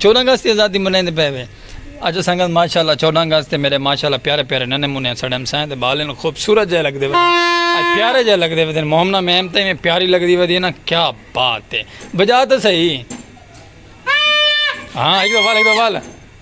چودہ اگست کی آزادی منائیں دے پہوے اج سنگت ماشاءاللہ چودہ اگست تے میرے ماشاءاللہ پیارے پیارے ننے منے سڑے مسائیں تے بالے نو خوبصورت جائے لگ دے وے اج پیارے جائے لگ دے وے مومنہ میں امتے میں پیاری لگ دی وے دی نا کیا بات ہے بجا تو صحیح ہاں ایک دو بال ایک دو بال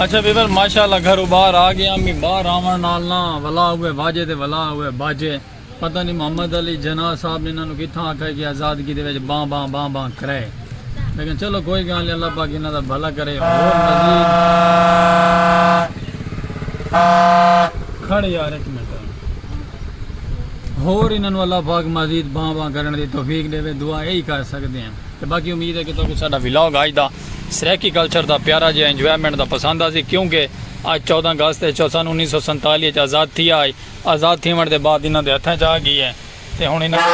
اچھا ویور ماشاءاللہ گھرو باہر آ گیا میں باہر آون نال نا ولا ہوئے واجے تے ولا ہوئے باجے پتہ نہیں محمد علی جناح صاحب انہاں نو کتھاں آکھا کہ آزادگی دے وچ باں باں باں باں کرے لیکن چلو کوئی گل نہیں اللہ پاک انہاں دا بھلا کرے اور مزید کھڑ یار ایک منٹ ہور انہاں نو اللہ پاک مزید بھاں بھاں کرن دی توفیق ڈیوے دعا ایہی کر سکدے ہیں تے باقی امید ہے کہ تہاکوں ساڈا ولاگ اج دا سرائیکی کلچر دا پیارا جیہا انجوائمنٹ دا پسند آسی کیونکہ اج چودہ اگست ہے سن انیس سو سنتالی اچ آزاد تھیا ہئی آزاد تھیوݨ دے بعد انہاں دے ہتھاں اچ آ گئی ہے تے ہن انہاں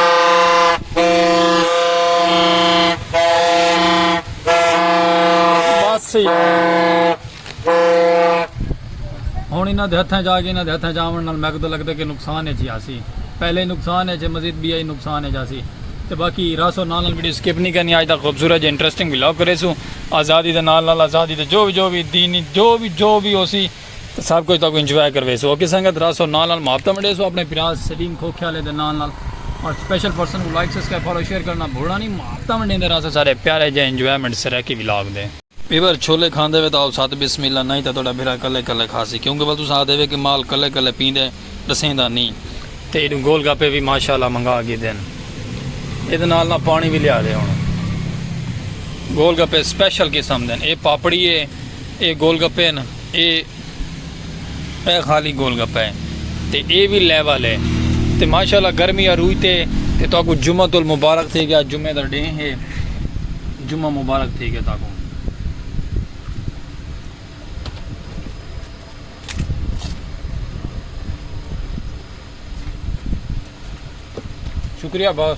ہنڑ انہاں دے ہتھاں اچ آ گئی، انہاں دے ہتھاں اچ آونڑ نال میکوں تاں لگدے کہ نقصان اچ ہی آسی، پہلے ہی نقصان اچ ہے مزید بیا ہی نقصان اچ آسی تے باقی رہسوں نال نال ویڈیو سکپ نی کرنی، آج دا خوبصورت جے انٹرسٹنگ ولاگ کریسوں آزادی دے نال نال آزادی دے جو وی جو وی دینی جو وی جو وی ہوسی تاں سب کچھ تہاکوں انجوائے کرویسوں اوکے سنگت رہسوں نال نال محبتاں ونڈیسوں اپنڑے بھرا سلیم کھوکھے آلے دے نال نال اور سپیشل پرسن کوں لائک سبسکرائب فالو شیئر کرنڑاں بھولنڑاں نی محبتاں ونڈیندے رہساں سارے پیارے جے انجوائمنٹ سرائیکی ولاگ دے۔ پیور چھولے کھاندے وے تاں آؤ ست بسم اللہ نئیں تاں تہاڈا بھرا کلے کلے کھاسی کیونکہ ول تساں آہدے وے کہ مال کلے کلے پیندے ڈسیندا نی تے ایڈوں گول گپے وی ماشاء اللہ منگا گھدن ایدے نال نہ پانی وی لیا دے ہن گول گپے سپیشل قسم دن اے پاپڑی اے اے گول گپے ہن۔ اے اے خالی گول گپہ ہے تے اے وی لیول ہے تے ماشاءاللہ گرمی عروج تے تے تہاکوں جمعۃ المبارک تھی گیا جمعے دا ڈینہہ ہے جمعہ مبارک تھی گیا تہاکوں شکریہ باس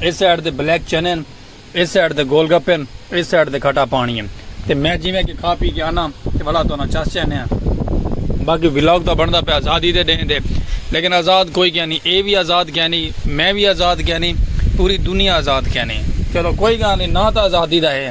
ایس سائیڈ دے بلیک چنے ہن ایس سائیڈ دے گول گپے ہن ایس سائیڈ دے کھٹا پانی ہن تے میں جیویں کہ کھا پی کے آنا تے بھلا تو نہ چس جانے ہیں باقی ولاگ تو بندا پہ آزادی دے ڈین دے لیکن آزاد کوئی کیا نہیں اے بھی آزاد کیا نہیں میں بھی آزاد کیا نہیں پوری دنیا آزاد کیا نہیں چلو کوئی گا نہیں نہ تو آزادی دا ہے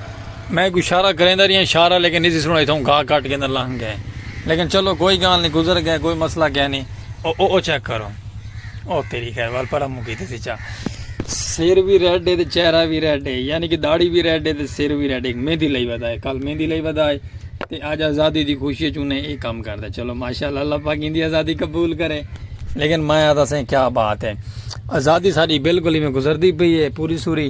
میں کوئی شارہ کریندا رہیا شارہ لیکن نی سی سنڑائی تھاؤں گھا کٹ کے اندر لنگ گئے لیکن چلو کوئی گال نی گزر گئے کوئی مسئلہ کیا نی او او او چیک کرو او تیری خیر وال پر ہم کیتے سی چا سر بھی ریڈ ہے تے چہرہ بھی ریڈ ہے یعنی کہ داڑھی بھی ریڈ ہے تے سر بھی ریڈ ہے مہندی لئی ودا ہے کل مہندی لئی ودا ہے تے اج آزادی دی خوشی وچ انہیں اے کام کردا چلو ماشاءاللہ اللہ پاک دی آزادی قبول کرے لیکن میں آتا سے کیا بات ہے آزادی ساری بالکل ہی میں گزردی پئی ہے پوری سوری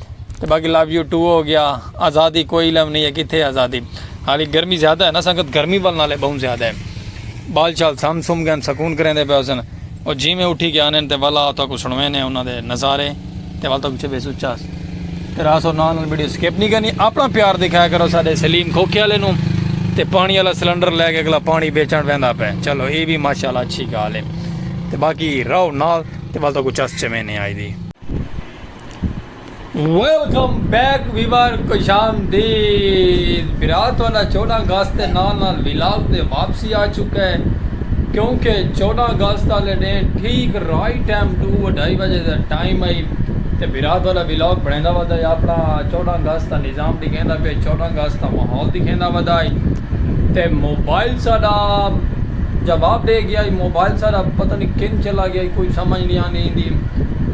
تے باقی لو یو ٹو ہو گیا آزادی کوئی علم نہیں ہے کتھے آزادی حالی گرمی زیادہ ہے نا سنگت گرمی ول نالے بہوں زیادہ ہے بال چال سم سم گئے سکون کریں دے پہ حسن اور جی میں اٹھی گیا انہیں تے والا تو کو سنویں نے انہوں دے نظارے تے والا تو کچھے بے سوچا تے راس اور نال ویڈیو سکیپ نہیں کرنی اپنا پیار دکھایا کرو سارے سلیم کھوکے والے نو تے پانی والا سلنڈر لے کے اگلا پانی بیچن پہندا پہ چلو اے بھی ماشاءاللہ اچھی گال ہے تے باقی رہو نال تے والا تو کو چس چویں نے آئی دی ویلکم بیک ویور خوش آمدید برا تہاڈا چودہ اگست دے نال نال ولاگ تے واپسی آ چکا ہے کیونکہ چودہ اگست والے ڈینھ ٹھیک رائٹ ٹائم ڈو اڈھائی بجے دا ٹائم آئی تے برا تہاڈا ولاگ بنیندا ودا ہے اپنا چودہ اگست دا نظام دکھیندا پیا چودہ اگست دا ماحول دکھیندا ودا ہے تے موبائل ساڈا جواب دے گیا ہے موبائل ساڈا پتہ نہیں کن چلا گیا ہے کوئی سمجھ نہیں آندی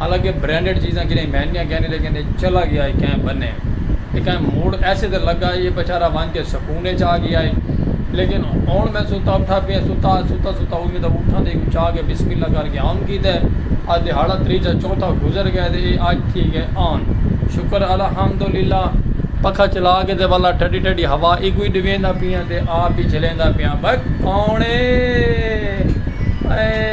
حالانکہ برینڈڈ چیزاں کیرائیں مہنگیاں کینی لیکن اے چلا گیا اے کہیں بنے اے کہیں موڑ ایسے تے لگا اے بچارہ ونج کے سکون اچ آ گیا اے لیکن ہن میں ستا اٹھا پیا ستا ستا ستا ہوئی میں تاں اٹھاں دے اوں چاہ کے بسم اللہ کر کے آن کی تے آج دیہاڑا تریجہ چوتھا گزر گئے تے اے آج تھی گئے آن شکر الحمدللہ پکھا چلا کے تے والا ٹھڈی ٹھڈی ہوا ایکوئی ڈویندا پیاں تے آپ بھی جھلیندا پیاں بھئی کون اے اے۔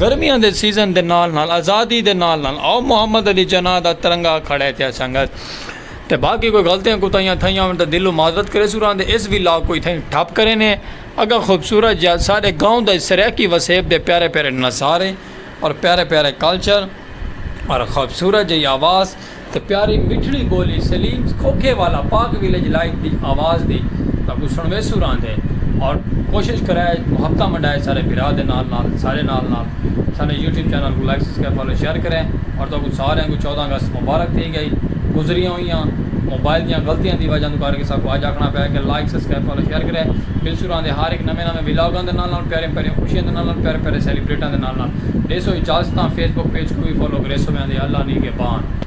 گرمیاں دے سیزن دے نال نال آزادی دے نال نال آؤ محمد علی جناح دا ترنگا کھڑے تھیا سنگت تے باقی کوئی غلطیاں کوتاہیاں تھئیاں ہن تاں دلوں معذرت کریسوں راہندے اس ولاگ کوں اتھائیں ٹھپ کرینے اگاں خوبصورت جیہا ساڈے گاؤں دا سرائیکی وسیب دے پیارے پیارے نظارے اور پیارے پیارے کلچر اور خوبصورت جیہی آواز تے پیاری مٹھڑی بولی سلیم کھوکھے والا پاک ویلیج لائٹ دی آواز دی تہاکوں سنڑویسوں راہندے اور کوشش کرے محبتاں ونڈائے سارے بھرا دے نال نال سارے نال نال ساڈے یوٹیوب چینل کوں لائک سبسکرائب فالو شیئر کرے اور تہاکوں ساریاں کوں چودہ اگست مبارک تھی گئی گزریاں ہوئیاں موبائل دیاں غلطیاں دی وجہ توں کر کے ساکوں اج آکھنا پے کہ لائک سبسکرائب فالو شیئر کرے ملسوں راہندے ہر ہک نویں نویں ولاگاں دے نال نال پیاریاں پیاریاں خوشیاں دے نال نال پیارے پیارے سیلیبریٹاں دے نال نال ڈیسو اجازتاں فیس بک پیج کوں وی فالو کریسو ویندے اللہ نیگہبان۔